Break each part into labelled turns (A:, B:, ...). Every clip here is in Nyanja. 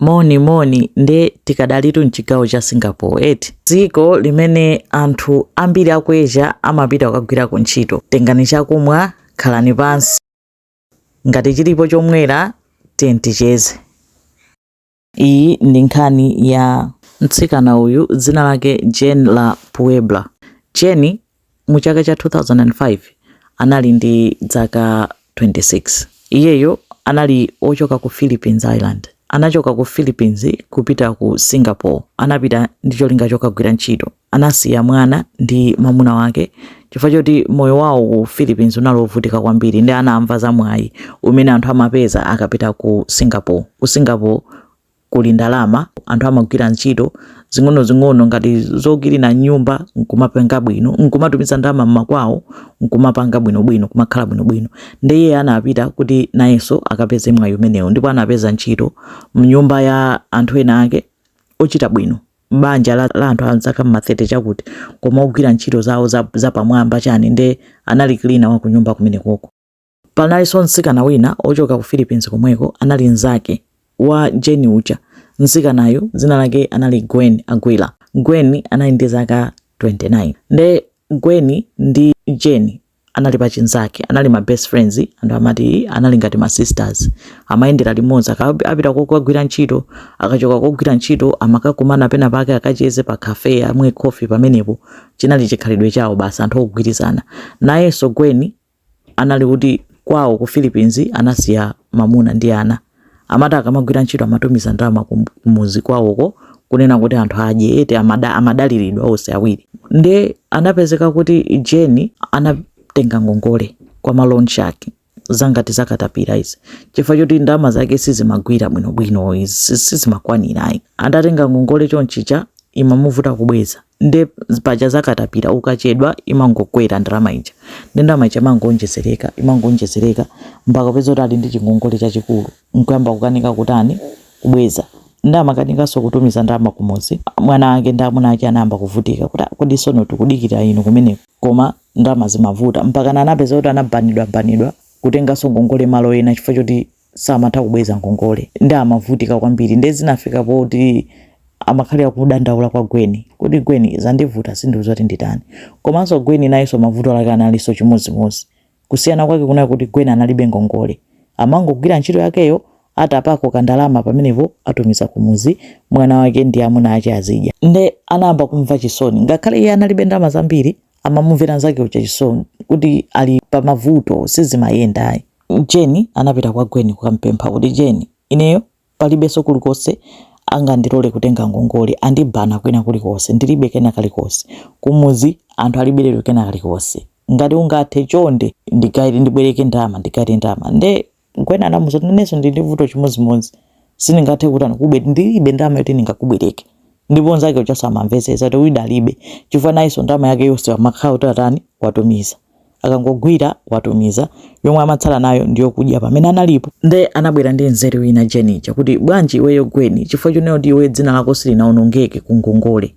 A: Moni moni nde tikadalitu mchigawo cha Singapore eti dziko limene anthu ambiri aku Asia amapita kukagwirako ntchito. Tengani chakumwa, khalani pansi, ngati chilipo chomwera tiyeni ticheze. Iyi ndi nkhani ya mtsikana uyu dzina lake Jane la Puebla. Jane mu chaka cha 2005 anali ndi dzaka 26 iyeyo anali ochoka ku philippines islands anachoka ku philippines kupita ku singapore anapita ndi cholinga chokagwira ntchito anasiya mwana ndi mamuna wake chifukwa choti moyo wawo ku philippines unali wovutika kwambiri nde anamva za mwayi umene anthu amapeza akapita ku singapore ku singapore kuli ndalama, anthu amagwira ntchito zing'onozing'ono ngati zokilina nyumba nkumapanga bwino, nkumatumiza ndalama mmakwawo nkumapanga bwinobwino, kumakhala bwinobwino. Nde iye anapita kuti nayenso akapeze mwayi umenewo ndipo anapeza ntchito mnyumba ya anthu ena ake ochita bwino banja la, la anthu a zaka mma 30 chakuti koma ogwira ntchito zawo zapamwamba za chani nde anali cleaner wa kunyumba kumenekoko. Panalinso mtsikana wina ochoka ku Philippines komweko, anali mnzake wa Jane uja. Mtsikanayu dzina lake anali Gwen Aguilar. Gwen anali ndi zaka 29. Nde Gwen ndi Jane anali pachinzake, anali ma best friends, anthu amati anali ngati ma sisters. Amayendera limodzi, akapita kokagwira ntchito, akachoka kogwira ntchito, amakakumana pena pake akacheze pa cafe, amwe coffee pamenepo. Chinali chikhalidwe chawo basi, anthu ogwirizana. Nayenso Gwen anali kuti kwawo ku Philippines anasiya mamuna ndi ana amati akamagwira ntchito amatumiza ndalama kumuzi kwawoko kunena kuti anthu adye eti amada, amadaliridwa onse awiri nde anapezeka kuti Jane anatenga ngongole kwa ma loan shark zangati zakatapira izi chifukwa choti ndalama zake sizimagwira bwinobwino izi sizimakwanira ayi atatenga ngongole chonchicha imamuvuta kubweza nde paja za katapira ukachedwa imangokwera ndalama ija nde ndalama ija imangoonjezereka imangoonjezereka mpaka kupeza kuti ali ndi chingongole chachikulu nkuyamba kukanika kutani kubweza nde amakanikanso kutumiza ndalama kumuzi mwana ake ndi amuna ake anayamba kuvutika kuti "Ah, kodi sono tikudikira inu kumeneko koma ndalama zikumavuta mpaka anapeza kuti anabanidwa banidwa kutenganso ngongole malo ena chifukwa choti samatha kubweza ngongole nde amavutika kwambiri ndiye zinafika poti amakhalira kudandaula kwa gwen kuti gwen zandivuta ndiuze kuti nditani komanso gwen nayenso mavuto ake analinso chimodzimodzi kusiyana kwake kunali kuti gwen analibe ngongole amangogwira ntchito yakeyo atapako kandalama pamenepo atumiza kumuzi mwana wake ndi amuna ache azidya nde anayamba kumva chisoni ngakhale iye analibe ndalama zambiri amamumvera nzake uja chisoni kuti ali pa mavuto sizimayenda ayi jeni anapita kwa gweni kukampempha kuti gweni ineyo palibenso kulikonse angandilole kutenga ngongole andibana kwina kulikonse ndilibe kena kalikonse kumudzi anthu alibiretu kena kalikonse ngati ungathe chonde ndigaire ndibwereke ndalama ndigaire ndalama nde Gwen anamuuza kuti nanenso ndili ndi vuto chimodzimodzi. Sindingathe kutani kukubwe ndilibe ndalama yoti ndingakubwereke. Ndipo nzake uja samamvetsetsa kuti uyu alibe chifukwa nayenso ndalama yake yonse amakhala kuti atani watumiza. Akangogwira watumiza yomwe amatsala nayo ndi yokudya pamene analipo. Nde anabwera ndi nzeru ina Jane uja kuti bwanji iweyo Gwen chifukwa chonena kuti iweyo dzina lako silinawonongeke ku ngongole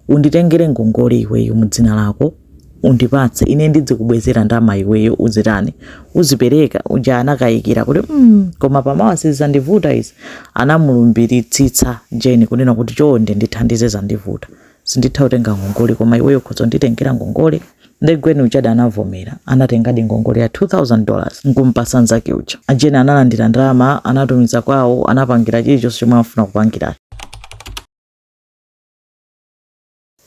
A: Unditengere ngongole iweyo mu dzina lako undipatse ine ndidzikubwezera ndama iweyo uzitani uzipereka uja anakayikira kuti mm, koma pamawa sizizandivuta izi anamulumbiritsitsa jeni kunena kuti chonde ndithandize zandivuta sinditha kutenga ngongole koma iweyo khoza nditengera ngongole nde gweni uja anavomera anatengadi ngongole ya 2000 dollars nkumpasa nzake uja jeni analandira ndalama anatumiza kwawo anapangira chilichonse chomwe amafuna kupangira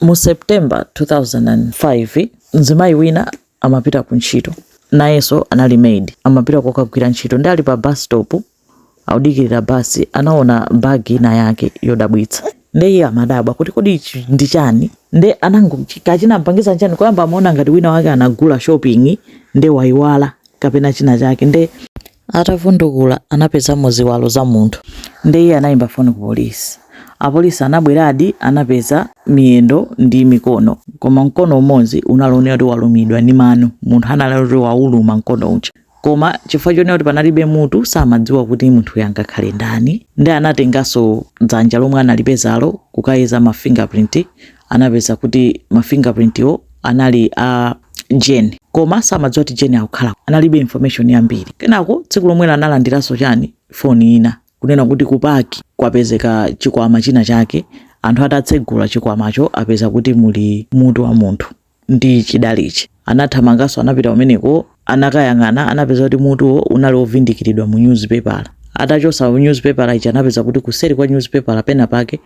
A: Mu September 2005, mzimayi wina amapita ku ntchito, nayenso anali maid, amapita kokagwira ntchito nde ali pa bus stop akudikilira bus anaona bag ina yake yodabwitsa nde iye amadabwa kuti kodi ichi ndi chani nde anango ka chinampangitsa nchani koyamba amaona ngati wina wake anagula shopping nde waiwala kapena china chake nde Atavundukula anapezamo ziwalo za munthu. Ndiye iye anayimba foni ku polisi. Apolisi anabweradi anapeza miyendo ndi mikono koma mkono umodzi unali oonekera kuti walumidwa ndi mano. Munthu anali atatani wawuluma mkono uja koma chifukwa chonena kuti panalibe mutu samadziwa kuti munthuyo angakhale ndani. Ndiye anatenganso dzanja lomwe analipezalo kukayeza ma finger print anapeza kuti ma fingerprintwo anali a Jane koma samadziwa kuti Jane akukhala analibe information yambiri kenako tsiku lomwelo analandiranso chani foni ina kunena kuti kupaki kwapezeka chikwama china chake anthu atatsegula chikwamacho apeza kuti muli mutu wa munthu ndi chidalichi. Anathamanganso anapita kumeneko anakayang'ana anapeza kuti mutuwo unali wovindikiridwa mu nyuzipepala. Atachotsa nyuzipepala ija anapeza kuti kuseri kwa nyuzipepala pena pake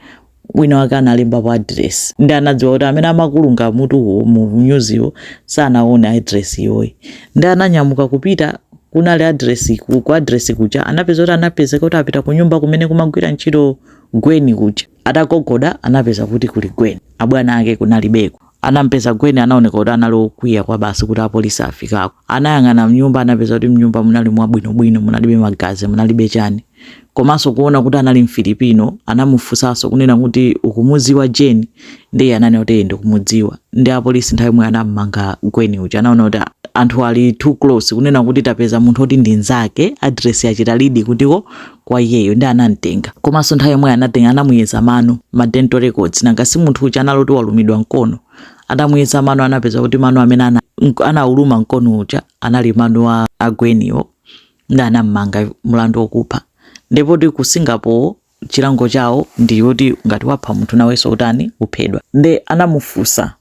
A: wina wake analembapo adiresi nde anadziwa kuti amene amakulunga mutuwo mu nyuziyo sanaone adiresi ijayi nde ananyamuka kupita kunali adiresi ku adiresi kuja anapeza kuti anapezeka kuti apita kunyumba kumene kumagwira ntchito gweni kuja Atagogoda anapeza kuti kuli Gwen. Abwana ake kunalibeko. Anampeza Gwen anaoneka kuti anali okwiya kwa basi kuti apolisi afikako. Anayang'ana mnyumba anapeza kuti mnyumba munali mwabwinobwino, munalibe magazi, munalibe chani. Komanso kuona kuti anali mfilipino, anamufunsanso kunena kuti ukumudziwa Jane? Ndiye ananena kuti ndikumudziwa. Nde apolisi nthawi yomweyo anammanga Gwen uja anaona kuti anthu ali too close kunena kuti tapeza munthu oti ndi nzake, address yachita lead kutiko kwa iyeyo nde anamtenga komaso nthawi yomweyo anatenga anamuyeza mano ma dental records nanga si munthu uja anali oti walumidwa mkono atamuyeza mano anapeza kuti mano amene ana anauluma mkono uja anali mano a a Gweniwo nde anammanga mlandu wokupha ndipo kuti ku Singapore chilango chawo ndi yoti ngati wapha munthu nawenso utani uphedwa nde anamufunsa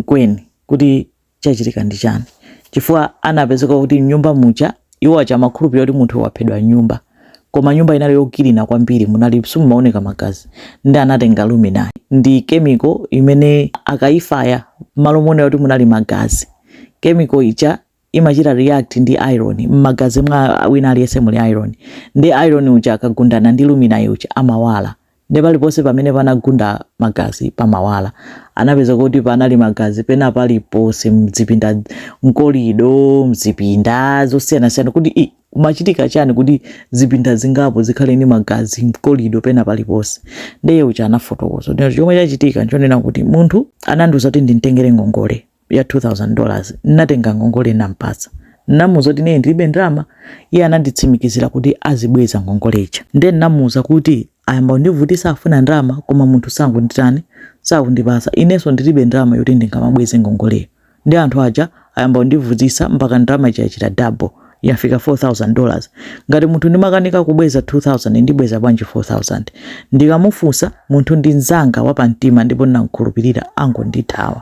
A: Gwen kuti chachitika ndi chani chifukwa anapezeka kuti mnyumba muja iwo aja amakhulupirira kuti munthu waphedwa mnyumba koma nyumba inali yokilina kwambiri munali simumaoneka magazi nde anatenga luminolyi ndi kemiko imene akayifaya mmalo monena kuti munali magazi kemiko ija imachita react ndi iron mmagazi mwa wina aliyense muli iron nde iron uja akagundana ndi luminol uja amawala Nde paliponse pamene panagunda magazi pamawala. Anapeza kuti panali magazi pena paliponse mzipinda mkolido, mzipinda zosiyanasiyana kuti i kumachitika chani kuti zipinda zingapo zikhale ndi magazi mkolido pena paliponse. Nde iye uja anafotokoza kuti chomwe chachitika nchonena kuti munthuyu anandiuza kuti ndimtengere ngongole. ya 2000 dollars nnatenga ngongole nnampatsa nnamuuza kuti ineyo ndilibe ndalama iye ananditsimikizira kuti azibweza ngongole ija nde nnamuuza kuti ayamba kundivutisa afuna ndalama koma munthu sakunditani sakundipasa inenso ndilibe ndalama yoti ndingamabweze ngongoleyo nde anthu aja ayamba kundivutisa mpaka ndalama ija yachita double yafika 4000 dollars ngati munthu ndimakanika kubweza 2000 ndibweza bwanji 4000 ndikamufunsa munthu ndi mzanga wapamtima ndipo ndinamkhulupirira angondithawa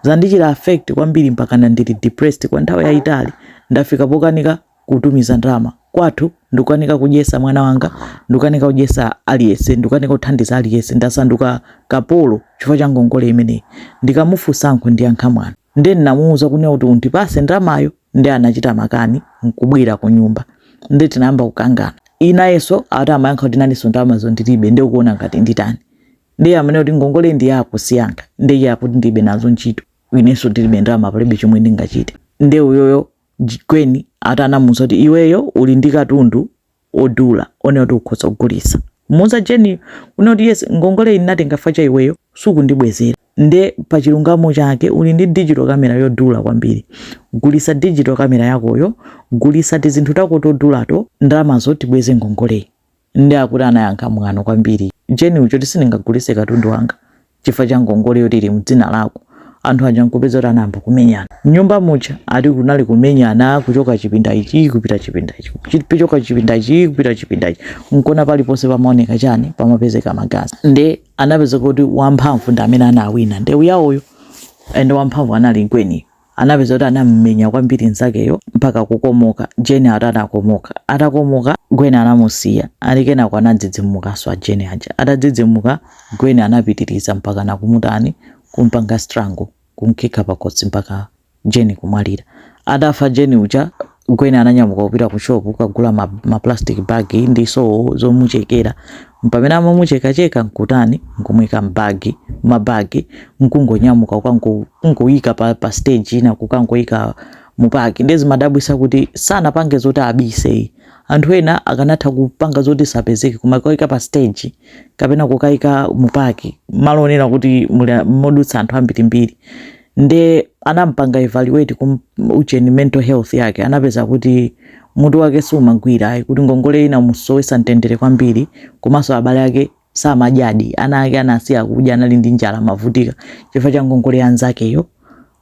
A: Zandichita affect kwambiri mpakana ndili depressed kwa nthawi yayitali. Ndafika pokanika kutumiza ndalama kwathu, ndikukanika kudyesa mwana wanga, ndikukanika kudyesa aliyense, ndikukanika kuthandiza aliyense. Ndasanduka kapolo chifukwa cha ngongole imeneyi. Ndikamufunsa ankundiyankha mwano. Ndiye ndinamuuza kunena kuti undipase ndalamayo, ndiye anachita makani nkubwera kunyumba. Ndiye tinayamba kukangana. Nayenso ati amayankha kuti nanenso ndalamazo ndilibe, ndiye ukuona ngati nditani? ndiye amanena kuti ngongole ndi yako siyanga ndiye iye akuti ndilibe nazo ntchito inenso ndilibe ndalama palibe chomwe ndingachite ndiye uyoyo Gweni ati anamuuza kuti iweyo uli ndi katundu odula wonena kuti ukhoza kugulitsa kumuuza jeni kunena kuti yes ngongole iyi ndinatenga chifukwa cha iweyo sukundibwezera nde pa chilungamo chake uli ndi digital camera yodula kwambiri gulitsa digital camera yakoyo gulitsa tizinthu tako todulato ndalamazo tibweze ngongoleyi Nde akuti anayankha mwano kwambiri. Jane uyu ati sindingagulise katundu wanga chifukwa cha ngongole yoti ili mdzina lako. Anthu aja nkupeza kuti anayamba kumenyana. Mnyumba muja ati kunali kumenyana kuchoka chipinda ichi kupita chipinda ichi. Kuchoka chipinda ichi kupita chipinda ichi. Nkona pali ponse pamaoneka chani pamapezeka magazi. Nde anapeza kuti wamphamvu ndi amene anawina. Ndewu yawoyo and wamphamvu anali Gwen. anapeza kuti anam'menya kwambiri nzakeyo mpaka kukomoka. Jane ati anakomoka. Atakomoka, Gwen anamusiya. Ati kenako anadzidzimukanso a Jane aja. Atadzidzimuka, Gwen anapitiriza mpaka nakumutani kumpanga strangle, kumkhika pakhosi mpaka Jane kumwalira. Atafa Jane uja, Gwen ananyamuka kupita ku shop kukagula ma, ma plastic bag ndi sowo zomuchekera mpamene amamuchekacheka nkutani nkumuika mbagi mabagi nkungonyamuka kukangoyika pa, pa stage ina kukangoyika mu park ndiye zimadabwitsa kuti sanapange zoti abise ayi anthu ena akanatha kupanga zoti sapezeke koma kukaika pa stage kapena kukaika mu park malo onena kuti muli modutsa anthu ambirimbiri nde anampanga evaluate kum ujeni mental health yake anapeza kuti mutu wake sumagwira ayi kuti ngongole inamusowesa mtendere kwambiri komanso abale ake samadyadi ana ake anasiya kudya anali ndi njala amavutika chifukwa cha ngongole ya nzakeyo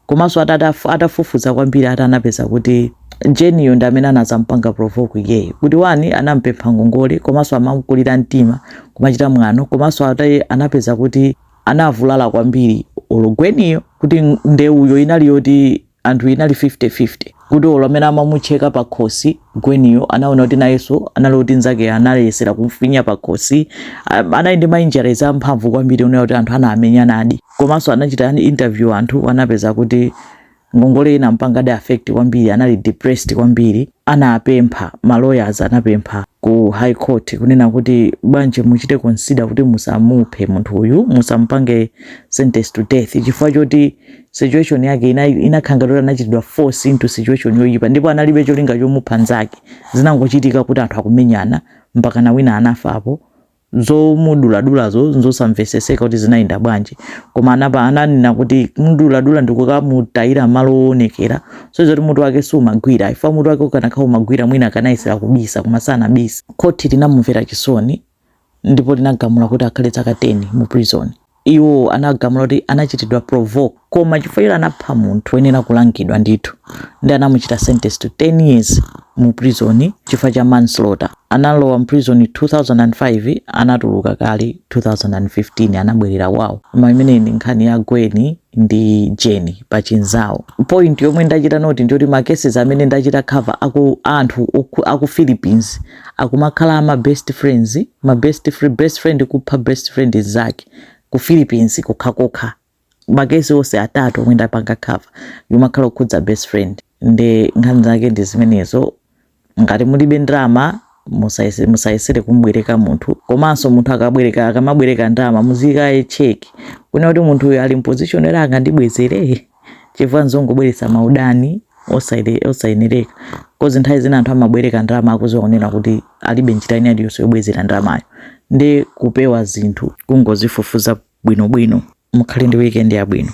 A: komanso atatafu- atafufuza kwambiri ati anapeza kuti Jane-yo ndi amene anazampanga provoke iyeyo kuti one anampempha ngongole komanso amamkulira mtima kumuchita mwano komanso ataye anapeza kuti anavulala kwambiri olo Gwen-yo kuti ndewuyo inali yoti anthu inali 50-50 kuti olo amene amamucheka pakhosi Gwen-yo anaona kuti nayenso anali kuti nzakeyo anayesera kumfinya pakhosi anali ndi ma injuries amphamvu kwambiri onena kuti anthu anamenyanadi komanso anachita interview anthu anapeza kuti Ngongoleyo inampangadi affect kwambiri anali depressed kwambiri anapempha ma lawyers anapempha ku high court kunena kuti bwanji muchite consider kuti musamuphe munthu uyu musamupange sentence to death chifukwa choti situation yake inakhala ngati anachitidwa force into situation yoyipa ndipo analibe cholinga chomupha nzake, zinangochitika kuti anthu akumenyana mpakana wina anafapo zomuduladulazo nzosamveseseka kuti zinayenda bwanji koma anapa ananena kuti kumuduladula ndikukamutayira malo owonekera showed zoti mutu wake sumagwira chifukwa mutu wake ukanakhala umagwira mwina akanayesera kubisa koma sanabisa khoti linamumvera chisoni ndipo linagamula kuti akhale zaka 10 mu prison Iwo anagamula kuti anachitidwa provoke koma chifukwa choti anapha munthu oyenera kulangidwa ndithu nde anamuchita sentence to 10 years mu prison chifukwa cha manslaughter. Analowa mu prison 2005 anatuluka kale 2015 anabwerera kwao. Koma imeneyi ndi nkhani ya Gwen ndi Jane pachinzawo. Point yomwe ndachita note ndi yoti ma cases amene ndachita cover aku a anthu aku Philippines akumakhala ama best friends ma best fre- best friend kupha best friend nzake ku Philippines kokhakokha makesi onse atatu omwe ndapanga cover imakhala yokhudza best friend nde nkhani zake ndi zimenezo ngati mulibe ndalama musayese- musayesere kumubwereka munthu komanso munthu akabwereka akamabwereka ndalama muzikayicheka kunena kuti munthu uyu ali mposition yoti angandibwezere chifukwa nzongobweretsa maudani osaile- osayenereka coz nthawi zina anthu amabwereka ndalama akuziwa kunena kuti alibe njira ina iliyonse yobwezera ndalamayo nde kupewa zinthu kungozifufuza bwinobwino mukhale ndi weekend yabwino